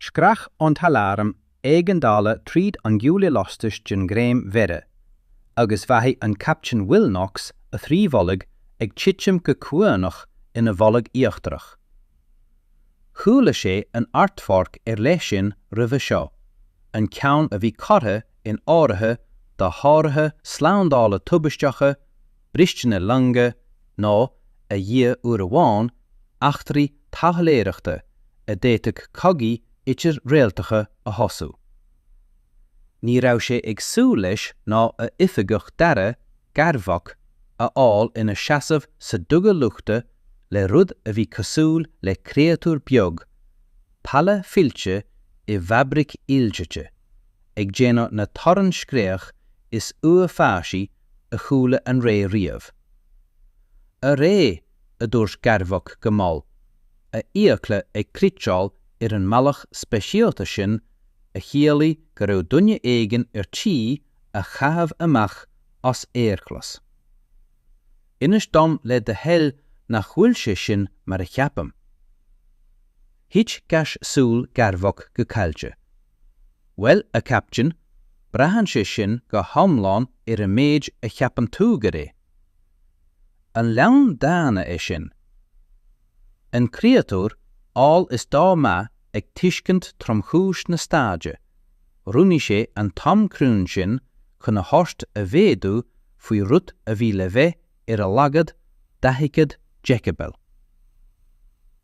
Screach an t-aláram éigeandála tríd an gcuaille lastais den ghreim mhéire, agus mhothaigh an Captaen Rilnox a thrí bholg ag titim go comhuaineach ina bholg íochtarach. Chuala sé an aerpháirc ar leith sin roimhe seo, an ceann a bhí curtha in áirithe do sháruithe slándála tubaisteacha, bristeanna loinge nó, a Dhia uair amháin, eachtraí taidhleoireachta a d'fhéadfadh cogaí idir-réaltacha a thosú. Ní raibh sé ag súil leis ná a oifigeach dara Garvok a fháil ina seasamh sa duga luchta le rud a bhí cosúil le créatúr beag, pale fillte i bhfabraic ildaite, ag déanamh na torann scréach is uafásaí a chuala an ré riamh. Arae, a dúirt Garvok go mall, a fhiacla ag critseáil ar an mbealach speisialta sin a chiallaigh go raibh duine éigin ar tí a chaitheamh amach as aerghlas. Inis dom le do thoil nach bhfuil sé sin mar a cheapaim. Thit gais súl Garvok go caillte. Bhuel, a Chaptaen, braitheann sé sin go hiomlán ar an méid a cheapann tú gur é. An leanbh daonna é sin? An créatúr amhail is dá mba ag tuiscint tromchúis na staide, roghnaigh sé an t-am cruinn sin chun a thoirt a mhéadú faoi rud a bhí le bheith ar a laghad daichead deicibel.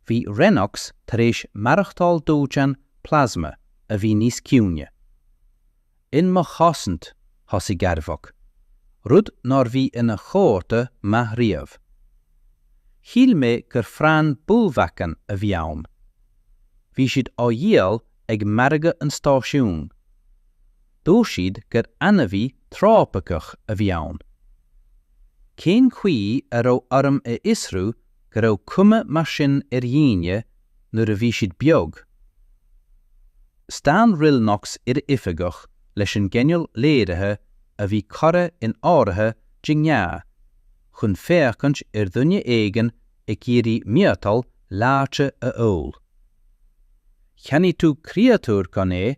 Bhí Rilnox tar éis maireachtáil dóiteán plasma a bhí níos ciúine. In mo chosaint, thosaigh Garvok, rud nár bhí ina chomhartha maith riamh. Shíl mé gur Fran Bulvacan a bhí ann. Bhí siad á dhíol ag margadh an stáisiúin. Dúirt siad gur ainmhí trópaiceach a bhí ann. Cén chaoi a raibh orm a fhiosrú go raibh cuma mar sin ar dhaoine nuair a bhí siad beag? Stán Rilnox ar a oifigeach leis an gcineál léirithe a bhí curtha in áirithe de ghnáth chun féachaint ar dhuine éigin ag iarraidh miotal leáite a ól. Cheannaigh tú créatúr gan é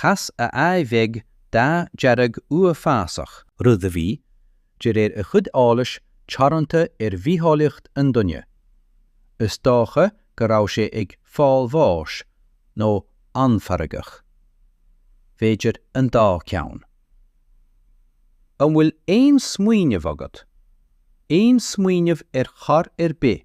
Chas a aghaidh bheag dath dearg uafásach. rud a bhí, de réir a chuid eolais, teoranta ar bhitheolaíocht an duine. Is dócha go raibh sé ag fáil bháis, nó an-fheargach. B'fhéidir an dá ceann. An bhfuil aon smaoineamh agat? Aon smaoineamh ar chor ar bith?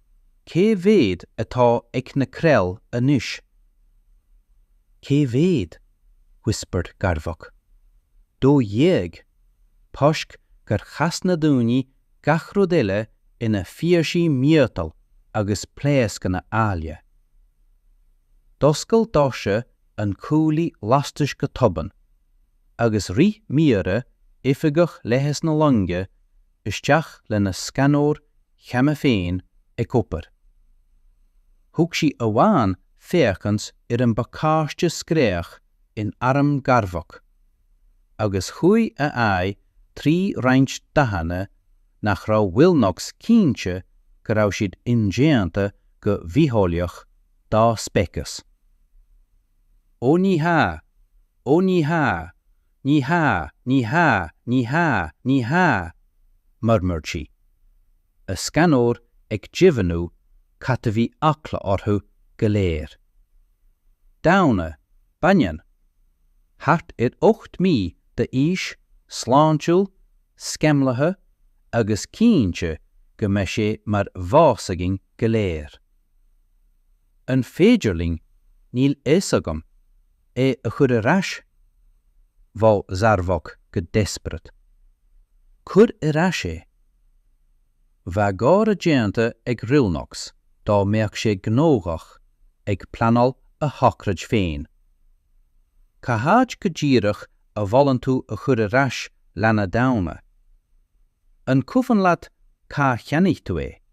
Cé mhéad atá ag na Krell anois? Cé mhéad? whispered Garvok. Dó dhéag, toisc gur chas na daoine gach rud eile ina phíosaí miotail agus pléascanna áille. D'oscail doirse an chuaillí lastais go tobann, agus rith Meera, Oifigeach Leighis na Loinge, isteach lena scanóir cheana féin ag obair. Thug sí amháin féachaint ar an bpacáiste scréach in arm Garvok, agus chuaigh a aghaidh trí roinnt dathanna nach raibh Willnox cinnte go raibh siad indéanta go bhitheolaíoch dá speiceas. 'Ó ní hea! Ó ní hea! Ní hea, ní hea, ní hea, ní hea! murmured sí, a scanóir ag deimhniú cad a bhí eagla orthu go léir. Daonna, baineann, thart ar ocht mí d'aois, sláintiúil, sceimlithe, agus cinnte go mbeidh sé mar bhás againn go léir. An féidir linn, níl fhios agam. É a chur ar ais? Mhol Zarvok go desperate. Cuir ar ais é. Bheadh gáire déanta ag Hrillnox dá mbeadh sé gnóthach ag pleanáil a shochraid féin. Cá háit go díreach a mholann tú a chur ar ais leanbh daonna? An cuimhin leat cá cheannaigh tú é?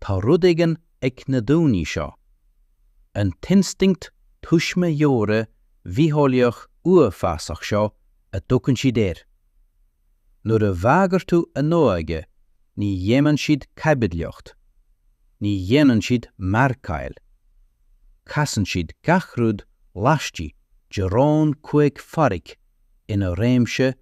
Tá rud éigin ag na daoine seo, an t-instinct tuismitheora bhitheolaíoch uafásach seo a dtugann siad air. Nuair a bhagair tú a n-óige ní dhéanann siad caibidlíocht, ní dhéanann siad margáil. Casann siad gach rud laistigh de raon cúig pháirc ina réimse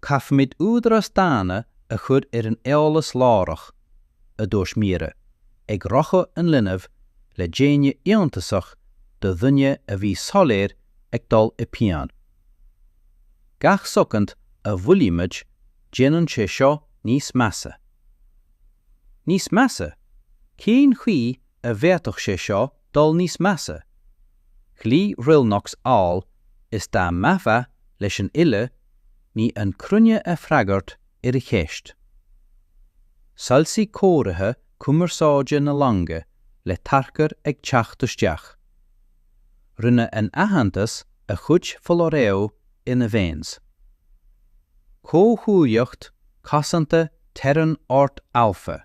Caithfimid údarás daonna a chur ar an eolas láithreach, a dúirt Meera, ag rocadh an linbh le déine iontasach do dhuine a bhí soiléir ag dul i bpian. Gach soicind a mhoillímid déanann sé seo níos measa. Níos measa? Cén chaoi a bhféadfadh sé seo dul níos measa. Ghlaoigh Hrylnoks amhail is dá mbeifeá leis an uile ní, an chruinne ag freagairt ar a cheist. Shoilsigh cóirithe cumarsáide na loinge le tarchur ag teacht isteach. Rinne an t-aitheantas a chuid foláireamh ina veins. Comhghuaillíocht cosanta Terran Ort Alpha.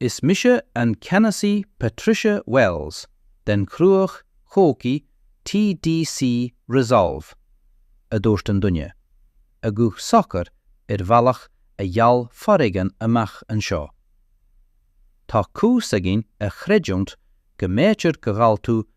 Is mise an Ceannasaí Patricia Wells den Chruach Chogaidh TDC Resolve, a dúirt an duine, a ghuth socair ar bhealach a gheall foréigean amach anseo. Tá cúis againn a chreidiúint go mb'fhéidir gur ghabh tú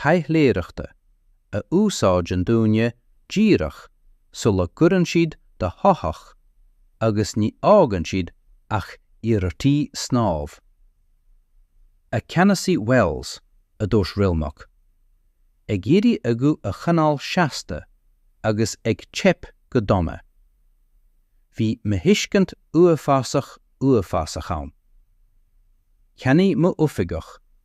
taidhleoireachta a úsáideann daoine díreach sula gcuireann siad do shoitheach agus ní fhágann siad ach iarrataí snámh. A Cheannasaí Wells, a dúirt Rilmoc, ag iarraidh a ghuth a choinneáil seasta agus ag teip go dona. Bhí míthuiscint uafásach uafásach ann. Cheannaigh m'oifigeach,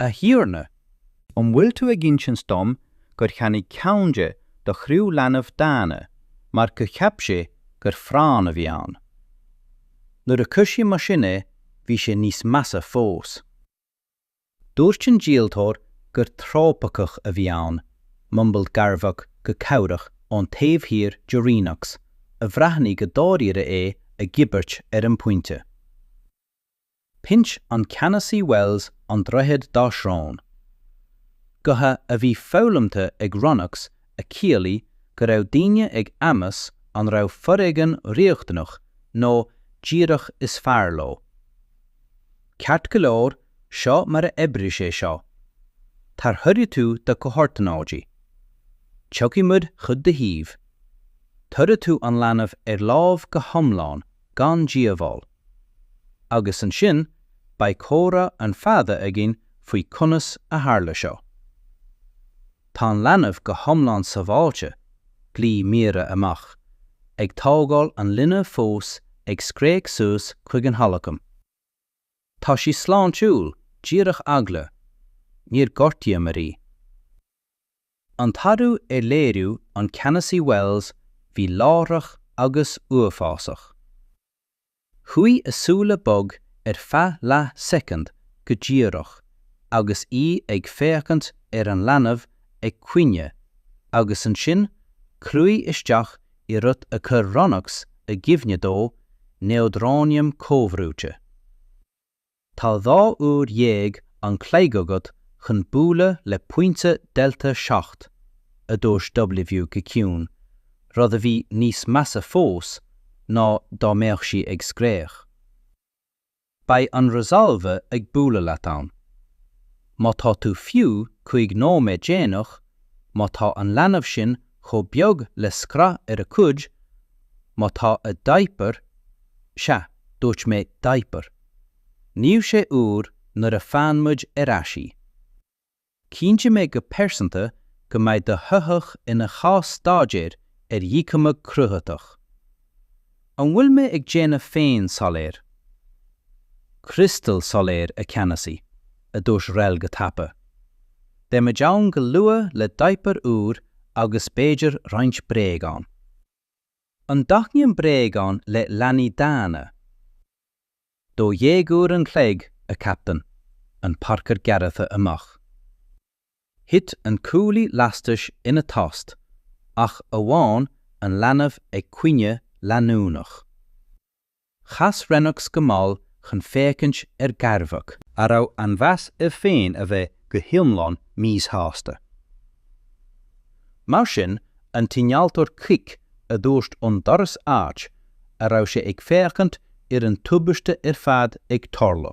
A Thiarna, an bhfuil tú ag insint dom gur cheannaigh ceann de do chriú leanbh daonna mar gur cheap sé gur phráinn a bhí ann? Nuair a cuireadh mar sin é, bhí sé níos measa fós. Dúirt an díoltóir gur trópaiceach a bhí ann, mumbled Garvok go cabhrach ón taobh thiar de Renox, a bhreathnaigh go dáiríre é a dhíbirt ar an bpointe. Pinch an Ceannasaí Wells an droichead dá srón. Gotha a bhí foghlamta ag Ronnacs a chiallaigh go raibh daoine ag meas an raibh foréigean riachtanach nó díreach is fearr leo. Ceart go leor, seo mar a oibreoidh sé seo. Tarchuirfidh tú do chomhordanáidí. Tiocfaidh muid chuig do thaobh. Tabharfaidh tú an leanbh ar láimh go hiomlán gan díobháil. agus ansin beidh comhrá an-fhada againn faoi conas a tharla seo. Tá an leanbh go hiomlán sábháilte, ghlaoigh Meera amach, ag tógáil an linbh fós ag scréach suas chuig an halacaim. Tá sí sláintiúil, díreach eagla, níor ghortaíomar í. An t-athrú ar léiriú an Cheannasaí Wells bhí láithreach agus uafásach. Chuaigh a súile bog ar feadh leathshoicind go díreach agus í ag féachaint ar an leanbh ag caoine agus ansin chruaigh isteach i rud a chuir Ronnacs i gcuimhne dó, neodróiniam comhbhrúite. Tá dhá uair dhéag an chloig agat chun bualadh le pointe Delta Seacht, a dúirt W. go ciúin, rud a bhí níos measa fós ná dá mbeadh sí ag scréach. Beidh an Resolve ag bualadh leat ann. Má tá tú fiú cúig nóiméad déanach, má tá an leanbh sin chomh beag le scraith ar a cuid, má tá a diaper, sea, dúirt mé diaper, níl sé úr nuair a fhaigheann muid ar ais í. Cinnteoidh mé go pearsanta go mbeidh do shoitheach ina chás-staidéar ar dhíchumadh cruthaitheach. An bhfuil mé ag déanamh féin soiléir, criostail soiléir, a Cheannasaí? a dúirt Rel go tapa. Beimid ann go luath le diaper úr agus b'fhéidir roinnt bréagán. An dtaitníonn bréagáin le leanaí daonna? Dó dhéag uair an chloig, a Chaptaen, an tarchur gearrtha amach. Thit an cuaille lastais ina tost, ach amháin an leanbh ag caoineadh leanúnach. Chas Rennox go mall chun féachaint ar Garvok, a raibh an mheas air féin a bheith go hiomlán míshásta. Mar sin an t-innealtóir Krik a dúirt ón doras áit a raibh sé ag féachaint ar an tubaiste ar fad ag tarlú.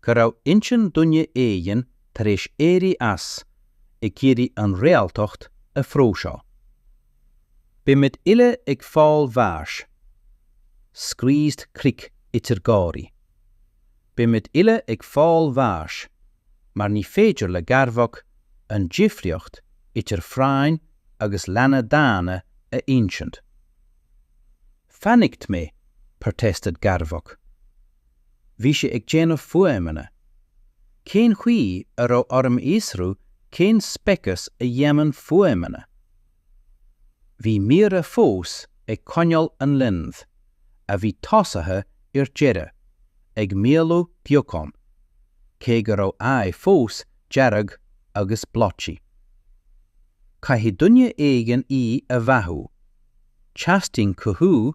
go raibh intinn duine éigin tar éis éirí as, ag iarraidh an réaltacht a phróiseáil. Beimid uile ag fáil bháis. screeched Krik idir gáirí. Beimid uile ag fáil bháis mar ní féidir le Garvok an difríocht idir phráinn agus leanbh daonna a insint. Panicked mé! protested Garvok. Bhí sé ag déanamh fuaimeanna. Cén chaoi a raibh orm a fhiosrú cén speiceas a dhéanann fuaimeanna? Bhí Mira fós ag coinneáil an linbh, a bhí tosaithe ar deireadh, ag maolú beagán, cé go raibh aghaidh fós dearg agus blotchy. Caithfidh duine éigin í a bheathú. Teastaíonn cothú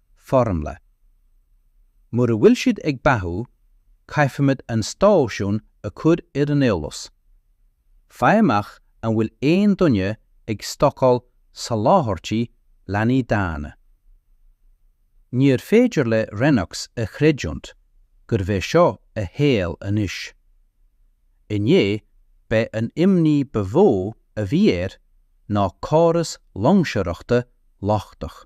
foirmle. Mura bhfuil siad ag beathú, caithfimid an stáisiún a chur ar an eolas. Faigh amach an bhfuil aon duine ag stocáil soláthairtí leanaí daonna. Níorbh féidir le Rennox a chreidiúint gurbh é seo a shaol anois. Inné b'é an imní ba mhó a bhí air ná córas loingseoireachta lochtach.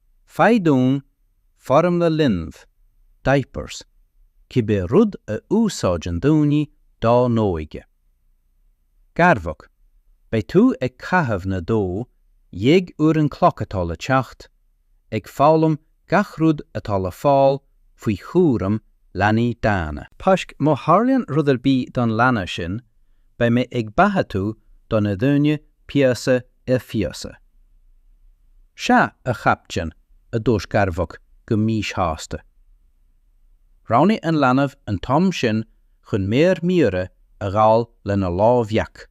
Faigh dúinn Foirmle Linbh, Diapers, cibé rud a úsáideann daoine dá n-óige. Garvok, Beidh tú ag caitheamh na dó dhéag uair an chloig atá le teacht, ag foghlaim gach rud atá le fáil faoi chúram leanaí daonna. Páisc, Má tharlaíonn rud ar bith don leanbh sin, beidh mé ag beathú tú do na daoine píosa ar phíosa. Sea, a chaiptin, a dúirt Garvok go míshásta. Roghnaigh an leanbh an t-am sin chun méar Meera a ghabháil lena lámh bheag.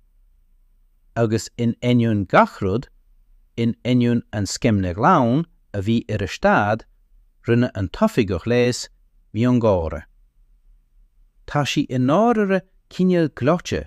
Agus in ainneoin gach rud, in ainneoin an sceimhle ghlan a bhí ar a staid, rinne an t-oifigeach leighis miongháire. Tá sí i ndáirire cineál gleoite,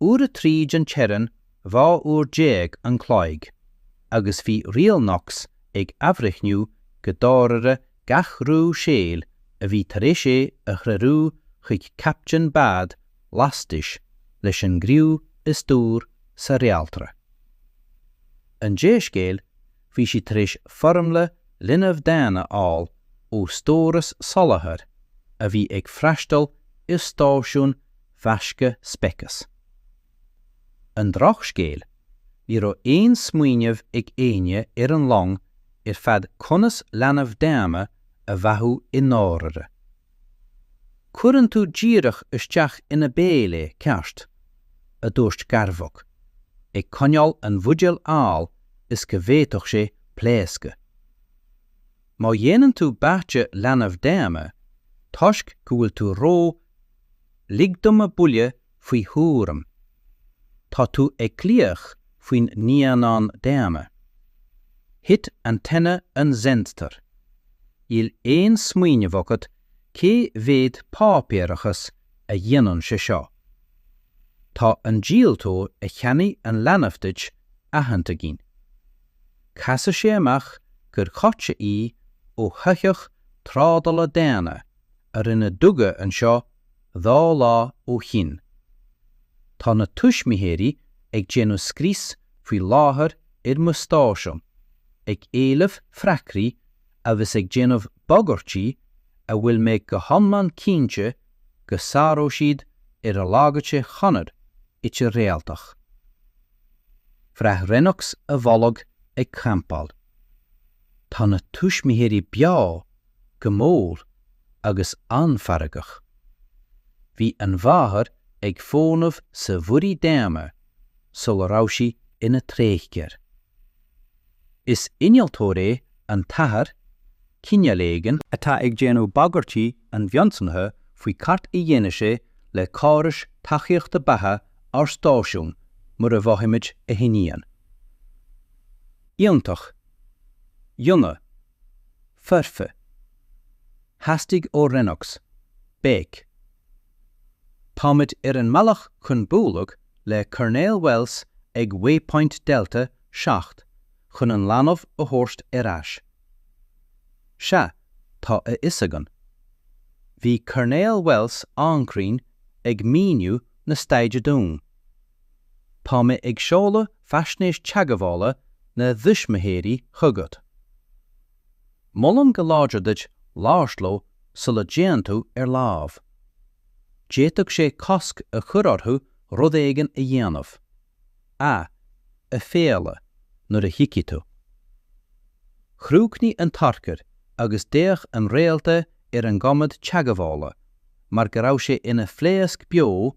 uair a trí den teorainn 12 uair an chloig agus bhí Renox ag athbhreithniú go dáirire gach rogha saoil a bhí tar éis é a threorú chuig captaen bád lastais leis an gcriú is dúr sa réaltra. An dea-scéal, bhí siad tar éis foirmle linbh daonna a fháil ó stóras soláthair a bhí ag freastail ar stáisiún mheasctha speiceas. An drochscéal, ní raibh aon smaoineamh ag éinne ar an long ar fad conas leanbh daonna a bheathú i ndáirire. Cuireann tú díreach isteach ina béal é, ceart? a dúirt Garvok, ag coinneáil an bhuidéil amhail is go bhféadfadh sé pléascadh. Má dhéanann tú báite leanbh daonna, toisc go bhfuil tú ró Lig dom a buille faoi thuairim. Tá tú ag glaoch faoin naíonán daonna. Thit antenna an Zentar. Níl aon smaoineamh agat cé mhéad páipéarachas a dhéanann sé seo. Tá an díoltóir a cheannaigh an leanbh duit aitheanta againn. Casadh sé amach gur ghoideadh í ó shoitheach trádála daonna i a rinneadh duga anseo dhá lá ó shin. Tá na tuismitheoirí ag déanamh scrios faoi láthair ar mo stáisiún, ag éileamh freagraí agus ag déanamh bagairtí a bhfuil mé go hiomlán cinnte go sáróidh siad ar a laghad trí chonradh idir-réaltach. Bhraith Renox a bholg ag clampáil. Tá na tuismitheoirí beo go mór agus an-fheargach. Bhí an mháthair ag fónamh sa Mhuirí Daonna sula raibh sí ina tréigtheoir. Is innealtóir é an t-athair, cineál éigin, atá ag déanamh bagairtí an-mhionsonraithe faoi céard a dhéanfaidh sé le córais tacaíochta beatha ár stáisiún mura bhfaighimid a hiníon. Iontach. Ionadh. foirfe. Theastaigh ó Renox béic. Táimid ar an mbealach chun bualadh le Coirnéal Wells ag Waypoint Delta 7 chun an leanbh a thabhairt ar ais. Sea, tá a fhios againn. Bhí Coirnéal Wells an-chruinn ag míniú na staide dúinn. Tá mé ag seoladh Faisnéis Teagmhála na dTuismitheoirí chugat. Molaim go láidir duit labhairt leo sula dtéann tú ar láimh. D'fhéadfadh sé cosc a chur orthu rud éigin a dhéanamh, a, aiféala, nuair a thiocfaidh tú. Chríochnaigh an tarchur agus d'fhéach an réalta ar an gcomhad teagmhála mar go raibh sé ina phléasc beo,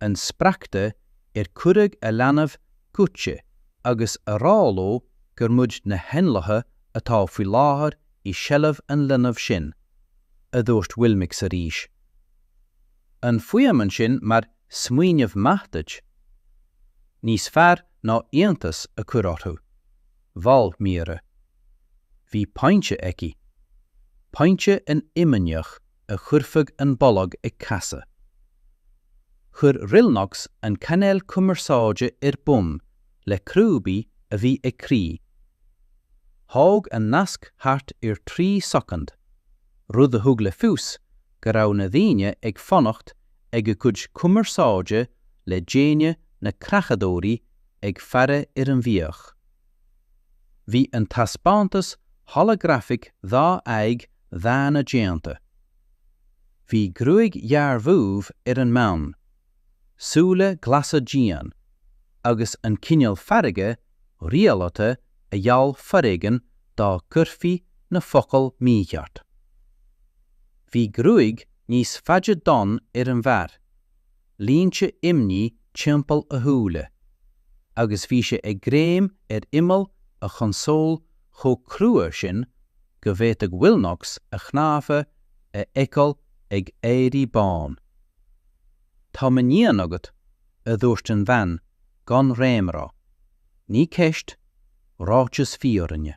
an spreagtha ar cuireadh a leanbh goidte agus a rá leo gur muid na héanlaithe atá faoi láthair i seilbh an linbh sin, a dúirt Willnox arís. An fuaimeann sin mar smaoineamh maith duit? Níos fearr ná iontas a chur orthu, mhol Mira. Bhí pointe aici. Pointe an-imníoch. a chuirfeadh an bolg ag casadh. Chuir Willnox an cainéal cumarsáide ar bun le crúbaí a bhí ag crith. Thóg an nasc thart ar 3 soicind, rud a thug le fios go raibh na daoine ag fanacht ag a gcuid cumarsáide le déine na creachadóirí ag faire ar an bhfiach. Bhí an taispeántas holagrafach dhá aghaidh dhaonna déanta. Bhí gruaig ghearr dhubh ar an mbean, súile glasa dian, agus an cineál feirge rialta a gheall foréigean dá gcuirfí na focail mícheart. Bhí gruaig níos faide donn ar an bhfear. línte imní timpeall a shúile, agus bhí sé ag greim ar imeall a chonsóil chomh crua sin go bhféadfadh Willnox a chnámha a fheiceáil ag éirí bán. Tá m'iníon agat, a dúirt an bhean, gan réamhrá. Ní ceist, ráiteas fírinne.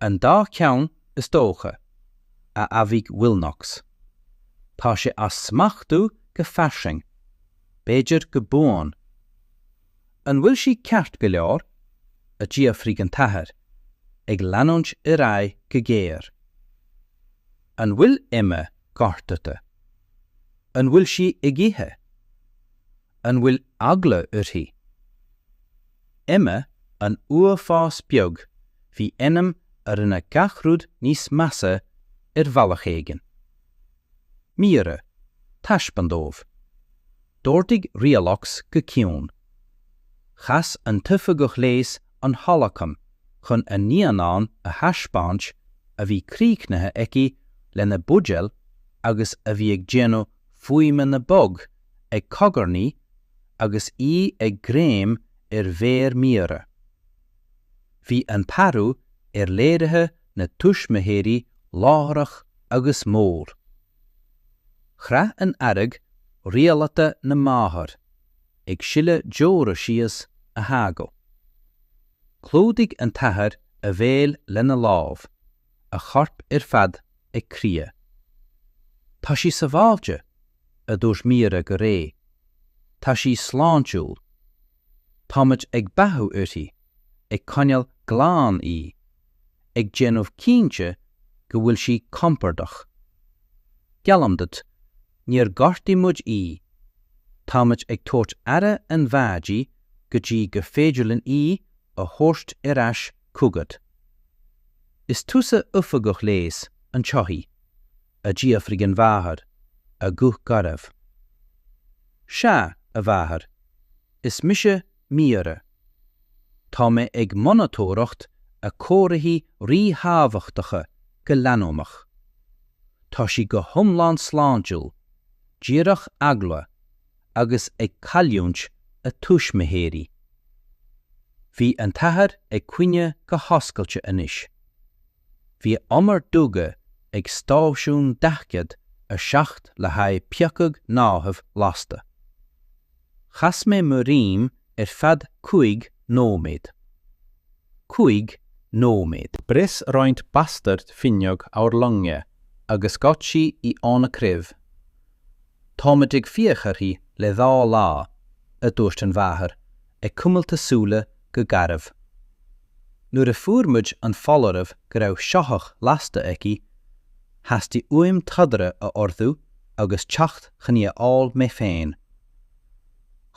An dá cheann, is dócha, a admhaigh Wilnox. Tá sé á smachtú go fairsing, b'fhéidir go buan. An bhfuil sí ceart go leor? a d'fhiafraigh an t-athair, ag leanúint ar aghaidh go géar. An bhfuil Emma gortaithe? An bhfuil sí ag ithe? An bhfuil eagla uirthi? Emma an uafás beag bhí ainm a rinne gach rud níos measa ar bhealach éigin. Mira, taispeáin dóibh. D'ordaigh Rialux go ciúin. Chas an t-oifigeach leighis an holacam chun an naíonán a thaispeáint a bhí críochnaithe aici lena buidéal agus a bhí ag déanamh fuaimeanna bog ag cogarnaí agus í ag greim ar mhéar Mira. Bhí an t-athrú ar léirithe na tuismitheoirí láithreach agus mór. Chraith an fhearg rialaithe na máthair, ag sileadh deora síos a haghaidh. Chlúdaigh an t-athair a bhéal lena lámh. a chorp ar fad ag crith. Tá sí sabháilte, a dúirt Mira go réidh. Tá sí sláintiúil. Táimid ag beathú uirthi, ag coinneáil glan í, ag déanamh cinnte go bhfuil sí compordach. Geallaim duit, níor ghortaigh muid í. Táimid ag tabhairt aire an-mhaith di go dtí go féidir linn í a thabhairt ar ais chugat. Is tusa oifigeach leighis an tsoithigh? a d'fhiafraigh an mháthair, a guth garbh. Sea, a mháthair, is mise Mira. Tá mé ag monatóireacht a comharthaí ríthábhachtacha go leanúnach. Tá sí go hiomlán sláintiúil, díreach eagla, agus ag cailliúint a tuismitheoirí. Bhí an t-athair ag caoineadh go hoscailte anois. Bhíomar duga ag stáisiún 47 le haghaidh piocadh gnáthaimh lasta. Chas mé mo dhroim ar feadh cúig nóiméad. Cúig nóiméad. Bhris roinnt bastard fuinneog ár loinge agus ghoid sí í óna craobh. Táimid ag fiach uirthi le dhá lá, a dúirt an mháthair, ag cuimilt a súile go garbh. Nuair a fuair muid an foláireamh go raibh soitheach lasta aici, theastaigh uaim trodaire a ordú agus teacht chun í a fháil mé féin.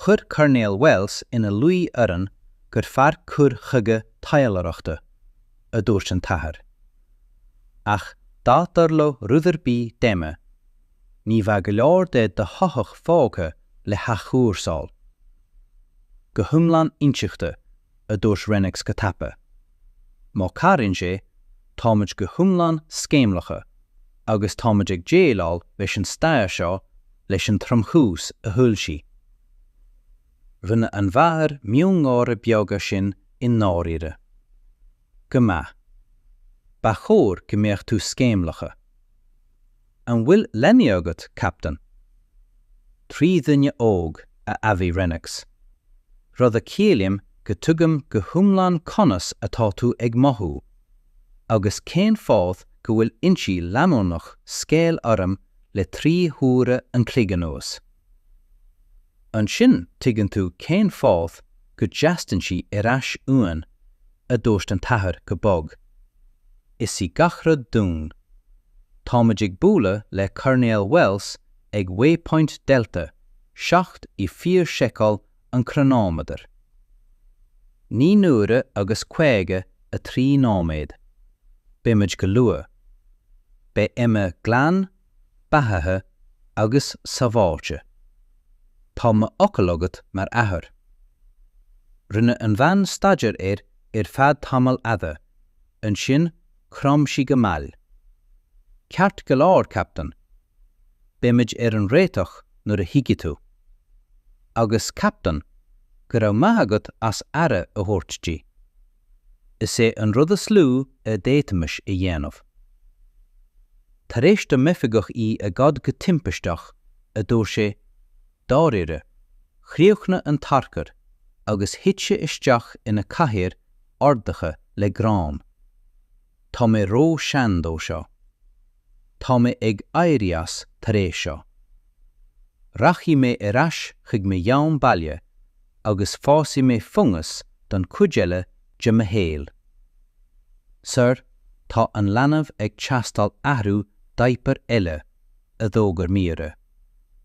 Chuir Coirnéal Wells ina luí orainn gur fearr cur chuige taidhleoireachta, a dúirt an t-athair. Ach dá dtarlódh rud ar bith d'Emma, ní bheadh go leor de do shoitheach fágtha le hathchúrsáil. Go hiomlán intuigthe, a dúirt Rennicks go tapa. Má chabhraíonn sé, táimid go hiomlán sceimhlithe agus táimid ag déileáil leis an staid seo leis an tromchúis a thuill sí. Rinne an mháthair miongháire beag ansin i ndáiríre. Go maith. Ba chóir go mbeadh tú sceimhlithe. An bhfuil leanaí agat, Captaen? Trí dhuine óg, a admhaigh Rennox. Rud a chiallaíonn go dtuigim go hiomlán conas atá tú ag mothú, agus cén fáth go bhfuil ionsaí leanúnach scaoill orm le trí huaire an chloig anuas. Ansin tuigeann tú cén fáth go dteastaíonn sí ar ais uainn, a dúirt an t-athair go bog. Is í gach rud dúinn. Táimid ag bualadh le Coirnéal Wells ag waypoint Delta 7 i bhfíor-seiceáil an chronometer. Naoi n-uaire agus caoga a trí nóiméad. Beimid go luath. Beidh Emma glan beathaithe agus sábháilte. Tá mo fhocal agat mar athair. Rinne an bhean staidéar air ar feadh tamaill fhada, ansin chrom sí go mall. Ceart go leor, Captaen. Beimid ar an réiteach nuair a thiocfaidh tú. Agus, Captaen, go raibh maith agat as aire a thabhairt di. Is é an rud is lú a d'fhéadfaimis a dhéanamh. Tar éis do m'oifigeach í a ghoid go timpisteach, a dúirt sé, dáiríre, chríochnaigh an tarchur agus thit sé isteach ina cathaoir ordaithe le gráin. Tá mé ró-sean dó seo. Tá mé ag éirí as tar éis seo. Rachaidh mé ar ais chuig mo dhomhan baile agus fásfaidh mé fungas don chuid eile de mo shaol. Sir, tá an leanbh ag teastáil athrú daipir eile, a d'fhógair Míre.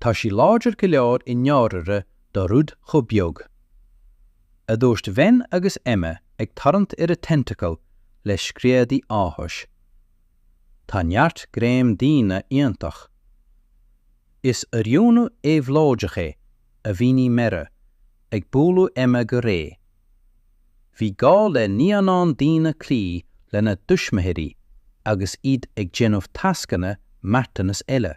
tá sí láidir go leor i ndáiríre do rud chomh beag. a dúirt Ven agus Emma ag tarraingt ar a tentacle le screadaí áthais. Tá neart greim daonna iontach. Is oiriúnú éabhlóideach é, a mhínigh Mera, ag bualadh Emma go réidh. Bhí gá le naíonáin daonna cloí lena dtuismitheoirí agus iad ag déanamh tascanna marthanais eile.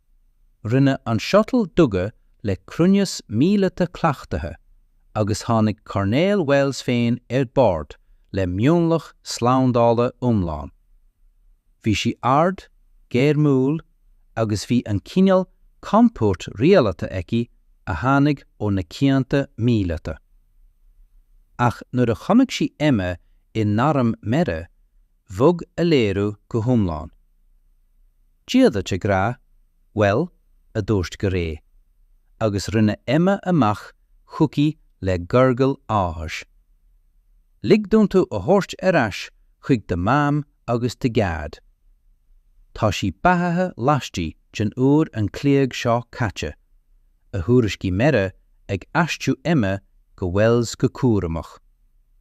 Rinne an shuttle duga le cruinneas míleata cleachtaithe agus tháinig Coirnéal Wells féin ar bord le mionlach slándála iomlán. Bhí sí ard, gairmiúil agus bhí an cineál comport rialaithe aici a tháinig ó na cianta míleata. Ach nuair a chonaic sí Emma in airm Mera, bhog a léiriú go hiomlán. Dia duit, a ghrá? Bhuel, a dúirt go réidh, agus rinne Emma amach chuici le gurgle áthais. Lig dom tú a thabhairt ar ais chuig do Mham agus do Dhaid. Tá sí beathaithe laistigh den uair an chloig seo caite, a thuairiscigh Mera, ag aistriú Emma go Wells go cúramach.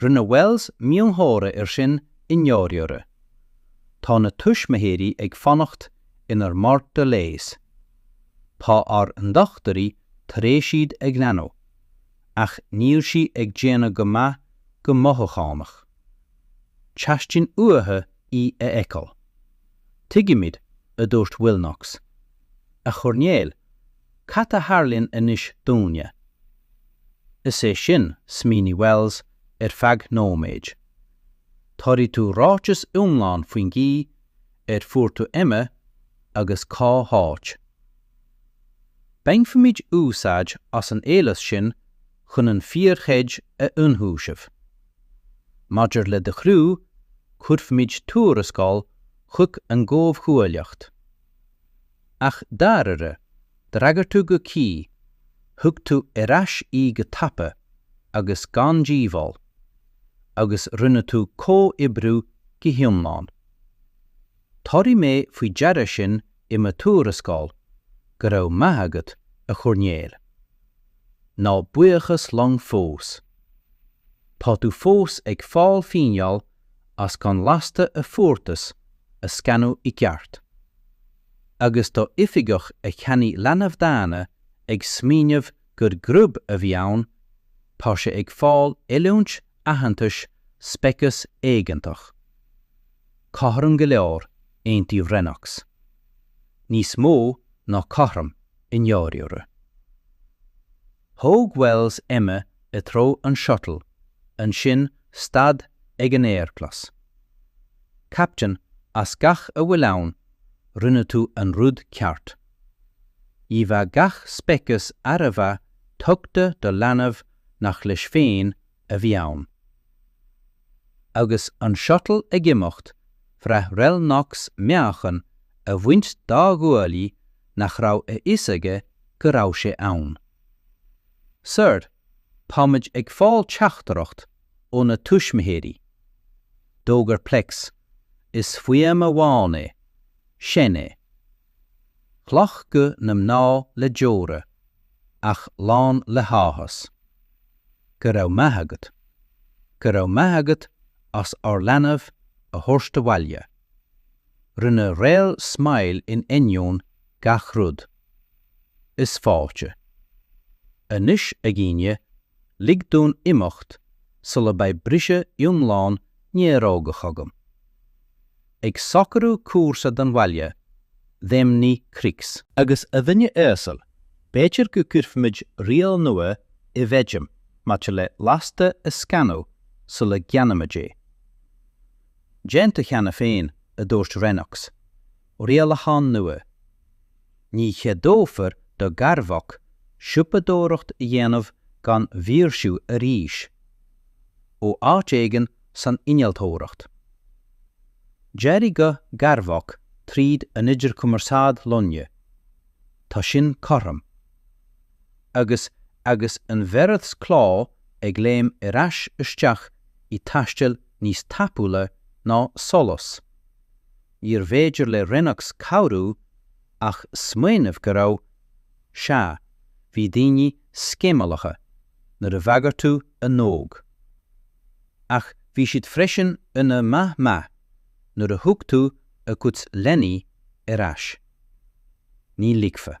Rinne Wells miongháire ar sin i ndáiríre. Tá na tuismitheoirí ag fanacht inár mbá leighis. Tá ár ndochtúirí tar éis iad a ghlanadh, ach níl sí ag déanamh go maith go mothúchánach. Teastaíonn uathu í a fheiceáil. Tuigimid, a dúirt Willnox. A Choirnéil, Cad a tharlaíonn anois dúinne? Is é sin, smaoinigh Wells ar feadh nóiméid. Tabharfaidh tú ráiteas iomlán faoin gcaoi ar fuair tú Emma agus cá háit. Bainfimid úsáid as an eolas sin chun an fíorghoid a ionchúiseamh. Maidir le do chriú, cuirfimid tuarascáil chuig an gComhghuaillíocht. Ach dáiríre, d'fhreagair tú go cuí, thug tú ar ais í go tapa agus gan díobháil, agus rinne tú comhoibriú go hiomlán. Tabharfaidh mé faoi deara sin i mo thuarascáil, go raibh maith agat, a Choirnéil. Ná buíochas liom fós. Tá tú fós ag fáil fíneáil as gan lasta a fuartas a scanadh i gceart. agus tá oifigeach a cheannaigh leanbh daonna ag smaoineamh gur grub a bhí ann, tá sé ag fáil oiliúint aitheantais speiceas éigeantach. Cothrom go leor, aontaíodh Rennox. Níos mó ná cothrom, i ndáiríre. Thóg Wells Emma i dtreo an shuttle, ansin stad ag an aerchlos. Captain, as gach a bhfuil ann, rinne tú an rud ceart. Ní bheadh gach speiceas ar a bheith tugtha do leanbh nach leis féin a bhí ann. Agus an shuttle ag imeacht, bhraith Réal Rennox meáchan a bhaint dá ghuaillí nach raibh a fhios aige go raibh sé ann. Sir, táimid ag fáil teachtaireacht ó na tuismitheoirí. D'fhógair Plex, Is fuaim amháin é. Seinn é. Chlocht guth na mná le deora, ach lán le háthas. Go raibh maith agat. Go raibh maith agat as ár leanbh a thabhairt abhaile. Rinne Réal smile in ainneoin gach rud. Is fáilte. Anois, a dhaoine, lig dúinn imeacht sula mbeidh briseadh iomlán néarógach agam. ag socrú cúrsa don bhaile, dheimhnigh Krix. Agus a dhuine uasail, b'fhéidir go gcuirfimid riail nua i bhfeidhm maidir le lasta a scanadh sula gceannaímid é. Déanta cheana féin, a dúirt Rennox, rialachán nua. Ní cheadófar do Garvok siopadóireacht a dhéanamh gan mhaoirsiú arís. Ó áit éigin san innealtóireacht. D'éirigh guth Garvok tríd an idirchumarsáid loinge. Tá sin cothrom. Agus agus an bheireadh cló ag léim ar ais isteach i taisteal níos tapúla ná solas. níorbh fhéidir le Rennox cabhrú ach smaoineamh go raibh, sea, bhí daoine sceimhleacha nuair a bhagair tú a n-óg. Ach bhí siad freisin ina maith maith nuair a thug tú a gcuid leanaí ar ais. Ní ligfeadh.